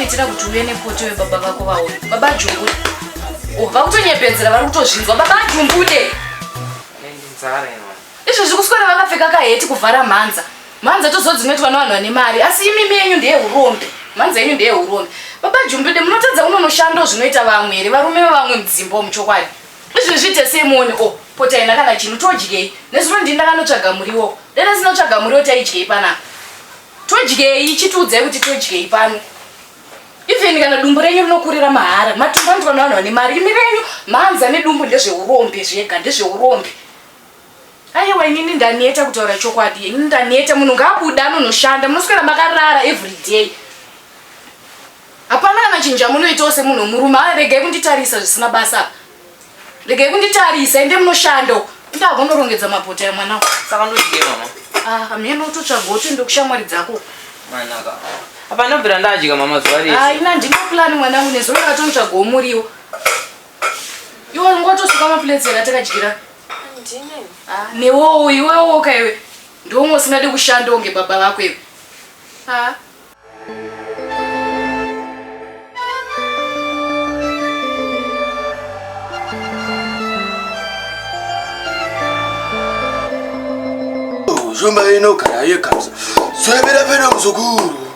kuitira kuti uve nepoto webaba vako vaone baba jungude oh, vakutonyepedzera vari kutozvinzwa baba jungude Izvezvi kuswera vakapfeka kaheti kuvhara mhanza. Mhanza toziva dzinoitwa nevanhu vane mari asi imimi yenyu ndeye urombe. Mhanza yenyu ndeye urombe. Baba Jumbide munotadza unonoshandawo zvinoita vamwe here varume vevamwe mudzimba umu chokwadi. Izvezvi tesei muone o oh, potai nakana chinu todyei. Nezuro ndini ndakanotsvaga muriwo. Dai ndasina kutsvaga muriwo taidyei panapa. Todyei chitiudzai kuti todyei pano even kana dumbu renyu rinokurira mahara matumbu anoitwa nevanhu vane mari imi renyu mhanza nedumbu ndezveurombe zvega ndezveurombe Aiwa inini ndaneta kutaura chokwadi. Inini ndaneta munhu ngaabuda anonoshanda. Munoswera makarara every day. Hapana kana chinja munoitawo semunhu murume. Ha regai kunditarisa zvisina basa. Regai kunditarisa ende munoshanda uko. Ndagonorongedza mabota ya mwana. Saka ndodye mama. Ah, hameno utotsvaga uti ndokushamwari dzako. Manaka. Hapana bvira ndadya mama zuva rese. Ah, ina ndino plan mwana unezuro ndatomutsvaga omuriwo. Iwe ngotosuka maplates ena takadyira. Ndine. Ah, newowo iwewo ka iwe. Ndiwomwe usingade kushanda unge baba vako iwe. Ah. Zvomba ino kana yekamsa. Soyabira pena mzukuru.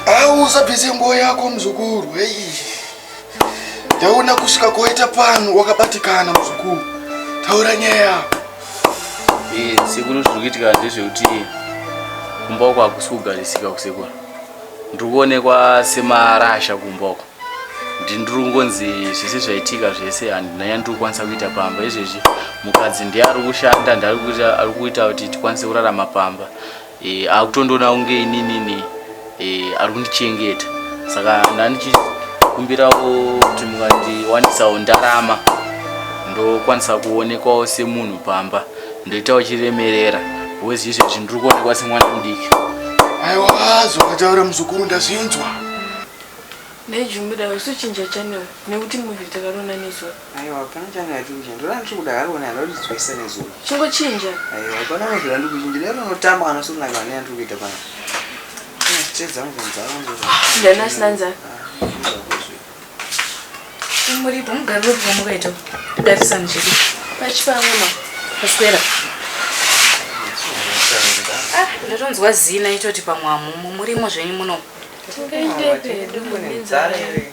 Ausa bhizi nguo yako mzukuru. Hey. Ndaona kusvika koita pano wakabatikana muzukuru. Taura nyaya. Eh, sekuru zviri kuitika ndezvekuti kumba uko hakusi kugarisika kusekuru. Ndiri kuonekwa semarasha kumba uko. Ndiri kungonzi zvese zvaitika zvese handina yandiri kukwanisa kuita pamba izvezvi mukadzi ndiye ari kushanda ndiye ari kuita kuti tikwanise kurarama pamba. e, akutondiona kunge ininini e, ari kundichengeta saka ndandichikumbirawo kuti mungandiwanisawo ndarama ndokwanisa kuonekwawo semunhu pamba ndoitawo chiremerera wezi izvezvi ndiri kuonekwa semwana mudiki aiwa zvakataura muzukuru ndazvinzwa ndaijumirawo sochinja chanel nekuti muvi takarona nezuva Aiwa pana changa achinja ndona ndiri kuda haro ne haro nditswe sene zuva. Chingo chinja. Aiwa pana no zvira ndiri kuchinja lero no tamba kana sona kana ne ndiri kuita pana. Ina stress zangu kunza wangu. Ndana sinanza. Muri pa mugari wepo mukaita. Ndati sanje chiri. Pachi pa mama. Paswera. Ah, ndatonzwa zina itoti pamwamu murimo zvenyu muno. Tingaite pedu. Ndinzare.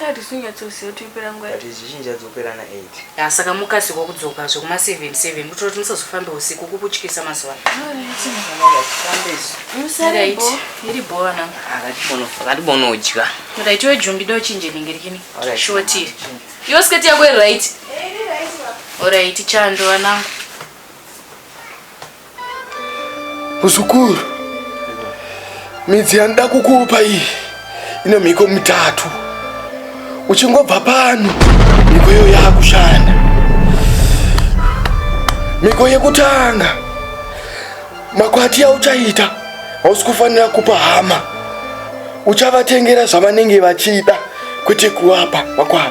Hatisi kunyatsoziva kuti yopera nguva. But zvichinji yadzopera na 8. Ya saka mukasiko kudzoka zve kuma 7 7 kutira kuti musazofambe usiku kukutyisa mazuva. Musare bo. Iri bo ana. Akati bono akati bono odya. Mira itiwe jumbi do chinje ninge rikini. Short iri. Yo skirt yako iri right. Iri right. Alright chando anangu. Muzukuru, midzi yandida kukupa iyi ine mhiko mitatu. Uchingobva pano, mhiko iyo yakushanda. Mhiko yekutanga, makwati yauchaita hausi kufanira kupa hama. uchavatengera zvavanenge vachida kwete kuwapa wakwana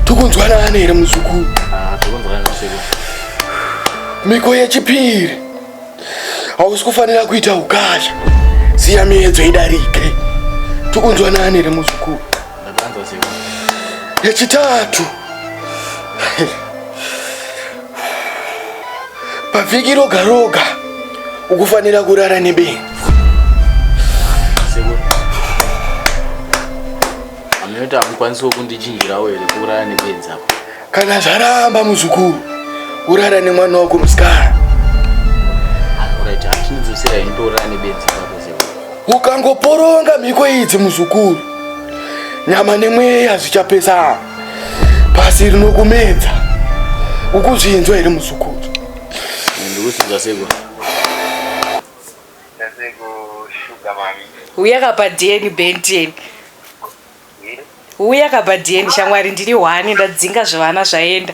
tokunzwanana here muzukuru ah, miko yechipiri hausi kufanira kuita ukasha siya miedzo idarike tokunzwanana here muzukuru yechitatu pavhiki roga roga ukufanira kurara nebenzi amene takukwanisawo kundichinjirawo here kurara nebenzi apo kana zvaramba muzukuru urara nemwana wako musikana ukangoporonga mhiko idzi muzukuru nyama nemweya zvichapesana pasi rinokumedza ukuzvinzwa here muzukuru uya kapa dn benten uya kapa dn shamwari ndiri hwani ndadzinga zvevana zvaenda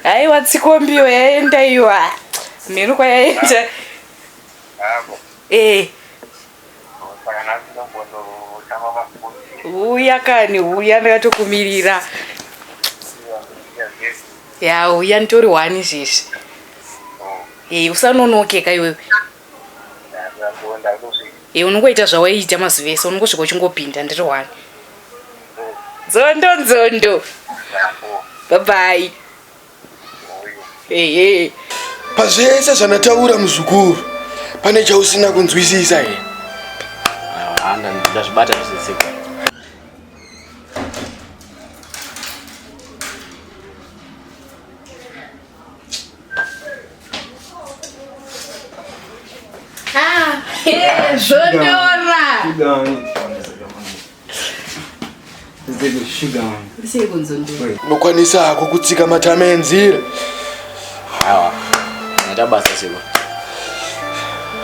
aiwa tsikombiyo yaenda iwa mhenu kwayaenda ee eh. Huya kani, huya ndakatokumirira. Ya, huya nditori wani zvizvi. Eh, usanonoke ka iwewe. Eh, unongoita zvawaiita mazuva ese, unongosvika uchingopinda ndiri wani. Nzondo nzondo. Bye bye. ehe pazvese zvanataura muzukuru pane chausina kunzwisisa here ndazvibata zvisisiko ah, zvondora Unokwanisa hako kutsika matama enzira. Awa. Nda basa sebo.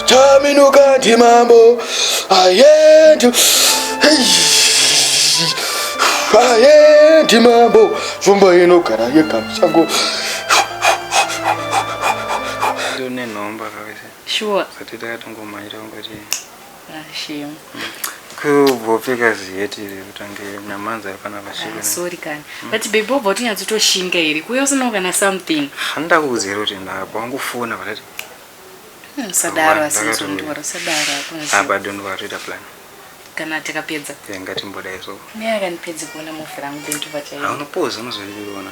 Taminuka ndi mambo. Ayendu. Ayendi mambo. Zvomba inogara yega musango. Ndone nhomba kawese. Sure. Satete akatongomhanyira ungati. kubvopfeka ziheti iri kutange nyamanza yafana vasvika ah, sorry kani mm. but baby wobva utinyatsotoshinga iri kuya usinawo kana something handida kukuziira kuti ndakabva wangofona vakati hmm, sadaro asitondiwara sadaro apa don't worry ta plan kana tikapedza ngatimboda iso ne akanipedzi kuona mufi rangu bentu vachaio anopoza unozoiona